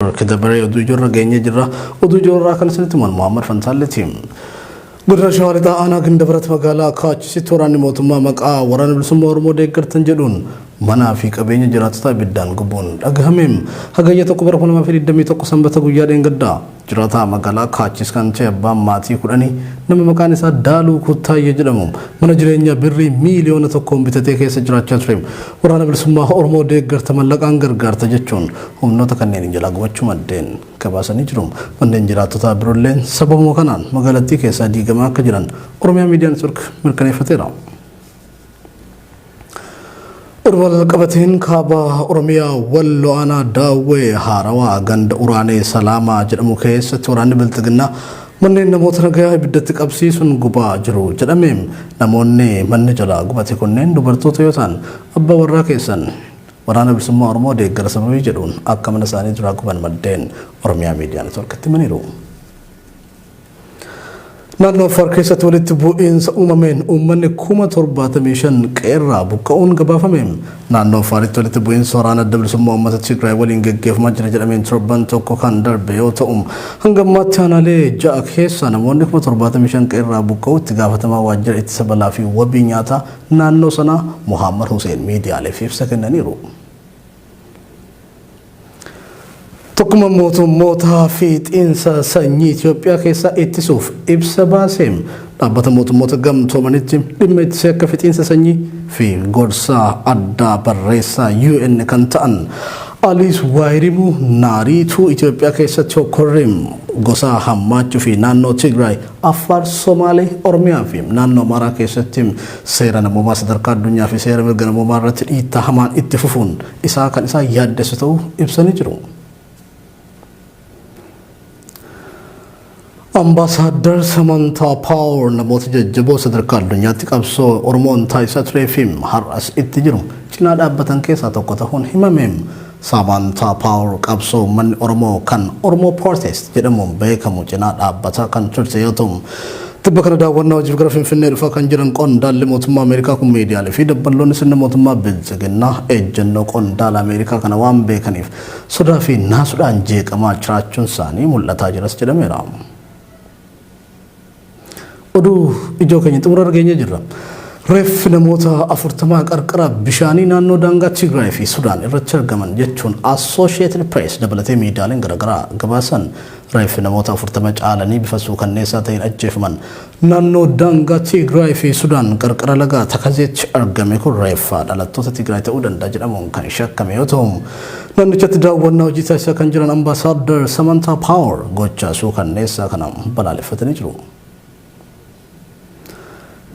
Akka dabaree oduu ijoorra geenyee jirra. Oduu ijoorraa kan isinitti himan Muhammad Fantaalleeti. Godina Shawaa Lixaa aanaa Gindabarat magaalaa Kaachisitti waraanni mootummaa maqaa waraana bilisummaa Oromoo deeggartan jedhuun manaa fi qabeenya jiraattotaa ibiddaan gubuun dhagahame. Hagayya tokko bara 2021 sanbata guyyaa dheengaddaa jiraataa magaalaa Kaachis kan ta'e abbaan maatii kudhanii nama maqaan isaa Daaluu Kuttaayyee jedhamu mana jireenyaa birrii miiliyoona tokkoon bitatee keessa jiraachaa ture. Waraana bilisummaa Oromoo deeggarta mallaqaan gargaarta jechuun humnoota kanneeniin jalaa gubachuu maddeen gabaasanii jiru. Manneen jiraattotaa biroolleen sababuma kanaan magaalattii keessaa diigamaa akka jiran Oromiyaa Miidiyaa Network mirkaneeffateera. Oduma walqabateen kaaba Oromiyaa Wallo Aanaa Daawwee Haarawaa ganda Uraanee Salaamaa jedhamu keessatti waraanni Bilxiginnaa manneen namoota nagayaa ibiddatti qabsiisuun gubaa jiru jedhame. Namoonni manni jalaa gubate kunneen dubartoota yoo ta'an abbaa warraa keessan Waraana Bilisummaa Oromoo deeggara sababii jedhuun akka mana isaanii duraa guban maddeen Oromiyaa Miidiyaa Networkitti himaniiru. Naannoo Affaar keessatti walitti bu'iinsa uumameen uummanni kuma 75 qe'eerraa buqqa'uun gabaafame. Naannoo Affaaritti walitti bu'iinsa waraana adda bilisummaa uummata Tigraay waliin geggeeffamaa jira jedhameen torban tokko kan darbe yoo ta'u, hanga ammaatti aanaalee ja'a keessaa namoonni kuma 75 qe'eerraa buqqa'uu itti gaafatamaa waajjira ittisa balaa fi wabii nyaataa naannoo sanaa Mohaammad Huseen miidiyaaleef ibsa kennaniiru. Tokkummaan mootummootaa fiixiinsa sanyii Itoophiyaa keessaa ittisuuf ibsa baase. Dhaabbata mootummoota gamtoomanitti dhimma ittisee akka fiixiinsa sanyii fi gorsaa addaa barreessaa UN kan ta'an Aliis Waayirimu Naariituu Itoophiyaa keessatti hokkorriin gosaa hammaachuu fi naannoo Tigraay Affaar, Somaalee, Oromiyaa fi naannoo Amaaraa keessatti seera namoomaa sadarkaa addunyaa fi seera mirga namoomaa irratti dhiittaa hamaan itti fufuun isaa kan isaan yaaddessu ta'uu ibsanii jiru. Ambaasaaddar Samantaa Paawar namoota jajjaboo sadarkaa addunyaatti qabsoo Oromoon taasisaa turee fi har'as itti jiru cinaa dhaabbatan keessaa tokko ta'uun himame. Samantaa Power qabsoo uummanni Oromoo kan Oromoo Protest jedhamuun beekamu cinaa dhaabbataa kan turte yoo ta'u, tibba kana daawwannaa hojiif gara Finfinnee dhufaa kan jiran qondaalli mootummaa Ameerikaa kun miidiyaalee fi dabballoonni sirna mootummaa Biltsiginnaa ejjennoo qondaala Ameerikaa kana waan beekaniif sodaa fi naasuudhaan jeeqamaa jiraachuunsaanii mul'ataa jiras jedhameera. Oduu ijoo keenya xumurarra geenyee jirra. Reeffi namoota afurtamaa qarqara bishaanii naannoo daangaa Tigraay fi Sudaan irratti argaman jechuun Associated Press dabalatee miidiyaaleen garaagaraa gabaasan reeffi namoota afurtama caalanii bifa suukanneessaa ta'een ajjeefaman naannoo daangaa Tigraay fi Sudaan qarqara lagaa Takazeetti argame kun reeffa dhalattoota Tigraay ta'uu danda'a jedhamuun kan shakkame yoo ta'u Naannichatti daawwannaa hojii taasisaa kan jiran Ambaasaaddar Samantaa Paawar gochaa suukanneessaa kana balaaleffatanii jiru.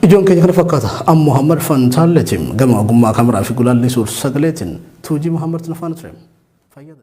Ijoon keenya kana fakkaata. An Muhammad Fantaalleetiin gama ogummaa kameraa fi gulaallii suur-sagaleetiin Tuujii Muhammadtu na faana ture. Fayyada.